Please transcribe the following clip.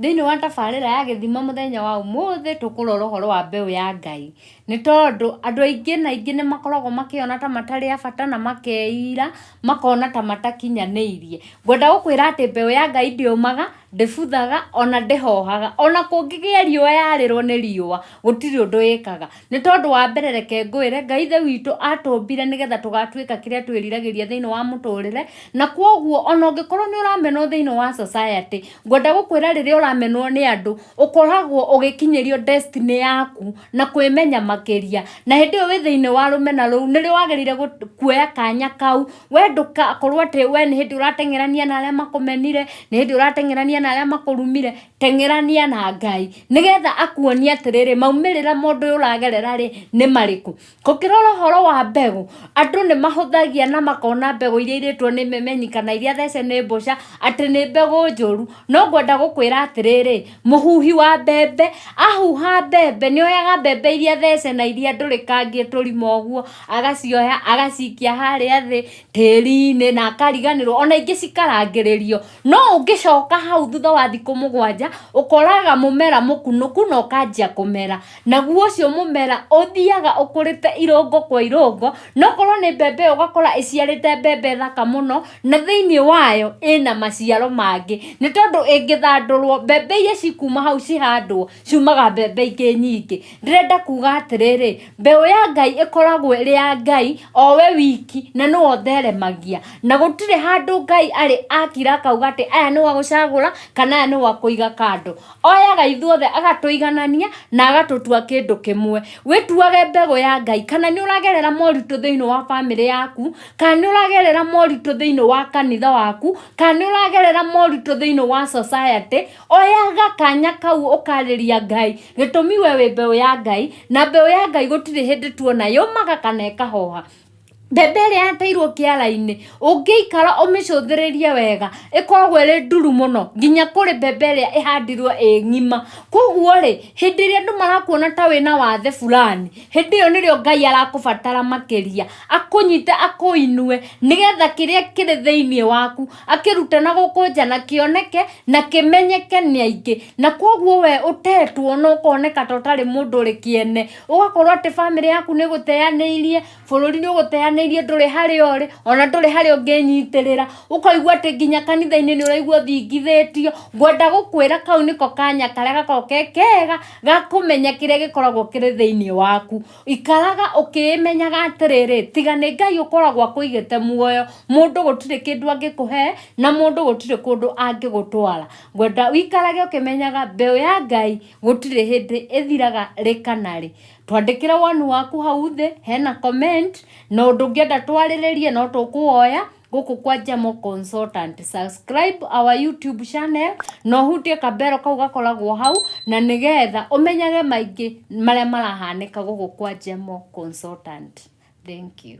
thĩinĩ wa tabarĩra ya gĩthima mũthenya wa ũmũthĩ tũkũrora ũhoro wa mbeũ ya ngai nĩ tondũ andũ aingĩ na aingĩ nĩ makoragwo makĩona ta matarĩ a bata na makeira makona ta matakinyanĩirie ngwenda gũkwĩra atĩ mbeũ ya ngai ndĩũmaga Ndĩbuthaga, o na ndĩhoohaga. O na kũngĩgĩa riũa yarĩrwo nĩ riũa, gũtirĩ ũndũ ĩkaga. Nĩ tondũ wa mbere reke ngwĩre, Ngai Ithe witũ aatũmbire nĩ getha tũgatuĩka kĩrĩa twĩriragĩria thĩinĩ wa mũtũrĩre, na kwoguo o na ũngĩkorwo nĩ ũramenwo thĩinĩ wa society, ngwenda gũkwĩra rĩrĩa ũramenwo nĩ andũ, ũkoragwo ũgĩkinyĩrio destiny yaku. na kwĩmenya makĩria na hĩndĩ ĩyo wĩ thĩinĩ wa rũmena rũu nĩrĩo wagĩrĩire gũ- kuoya kanya kau we ndũgakorwo atĩ we nĩ hĩndĩ ũrateng'erania na arĩa makũmenire nĩ hĩndĩ ũrateng'erania na arĩa makũrumire teng'erania na ngai nĩgetha akuonie atĩrĩrĩ maumĩrĩra mũndũ ũyũ ũragerera rĩ nĩ marĩkũ Kũngĩrora ũhoro wa mbegũ, andũ nĩ mahũthagia na makona mbegũ iria irĩtwo nĩ memenyi kana iria thece nĩ mbũca atĩ nĩ mbegũ njũru. No ngwenda gũkwĩra atĩrĩrĩ, mũhuhi wa mbembe ahuha mbembe nĩ oyaga mbembe iria thece na iria ndũrĩkangie tũrima ũguo, agacioya agacikia harĩa thĩ tĩri-inĩ na akariganĩrwo, ona ingĩ cikarangĩrĩrio. No ũngĩcoka hau thutha wa thikũ mũgwanja, ũkoraga mũmera mũkunũku na ũkanjia kũmera. naguo ũcio mũmera ũthiaga ũkũrĩte irũngo kwa irũngo nokorwo nĩ mbembe ĩyo ũgakora ĩciarĩte mbembe thaka mũno na thĩinĩ wayo ĩna maciaro mangĩ nĩ tondũ ĩngĩthandũrwo mbembe iria cikuma hau cihandwo ciumaga mbembe ingĩ nyingĩ ndĩrenda kuga atĩrĩrĩ mbeũ ya Ngai ĩkoragwo ĩrĩ ya Ngai o we wiki na nĩwe ũtheremagia na gũtirĩ handũ Ngai arĩ akira akauga atĩ aya nĩo agũcagũra kana aya nĩo akũiga kando. oyaga ithuothe agatũiganania na agatũtua kĩndũ kĩmwe wĩtuage mbegũ ya ngai kana nĩ ũragerera moritũ thĩinĩ wa bamĩrĩ yaku kana nĩ ũragerera moritũ thĩinĩ wa kanitha waku kana nĩ ũragerera moritũ thĩinĩ wa society oyaga kanya kau ũkarĩria ngai gĩtũmi we wĩ mbeũ ya ngai na mbeũ ya ngai gũtirĩ hĩndĩ tuona yũmaga kana ĩkahoha mbembe ĩrĩa yateirwo kĩara-inĩ ũngĩikara ũmĩcũthĩrĩrie wega ĩkoragwo ĩrĩ nduru mũno nginya kũrĩ mbembe ĩrĩa ĩhandirwo ĩ ng'ima koguo rĩ hĩndĩ ĩrĩa andũ marakuona ta wĩna wathe burani hĩndĩ ĩyo nĩrĩo Ngai arakũbatara makĩria akũnyite akũinue nĩgetha kĩrĩa kĩrĩ thĩiniĩ waku akĩrute na gũkũ nja na kĩoneke na kĩmenyeke nĩ aingĩ na koguo we ũtetwo na ũkoneka ta ũtarĩ mũndũ ũrĩ kĩene. ũgakorwo atĩ bamĩrĩ yaku nĩ gũteanĩirie bũrũri nĩ ũgũteanĩirie ndũrĩ harĩa ũrĩ ona ndũrĩ harĩa ũngĩnyitĩrĩra ũkaigua atĩ nginya kanitha-inĩ nĩ ũraigua ũthingithĩtio ngwenda gũkwĩra kau nĩko kanya karĩa gakoragwo ke kega ga kũmenya kĩrĩa gĩkoragwo kĩrĩ thĩinĩ waku ikaraga ũkĩĩmenyaga atĩrĩrĩ tiga nĩ ngai ũkoragwo akũigĩte muoyo mũndũ gũtirĩ kĩndũ angĩkũhe na mũndũ gũtirĩ kũndũ angĩgũtwara ngwenda ũikarage ũkĩmenyaga mbeũ ya ngai gũtirĩ hĩndĩ ĩthiraga rĩka na rĩ twandĩkĩre woni waku hau thĩ hena comment na ũndũ ũngĩenda twarĩrĩrie no tũkũwoya gũkũ kwa Jamo Consultant. Subscribe our YouTube channel na ũhutie kambero kau gakoragwo hau na nĩgetha ũmenyage maingĩ marĩa marahanĩka gũkũ kwa Jamo Consultant. Thank you.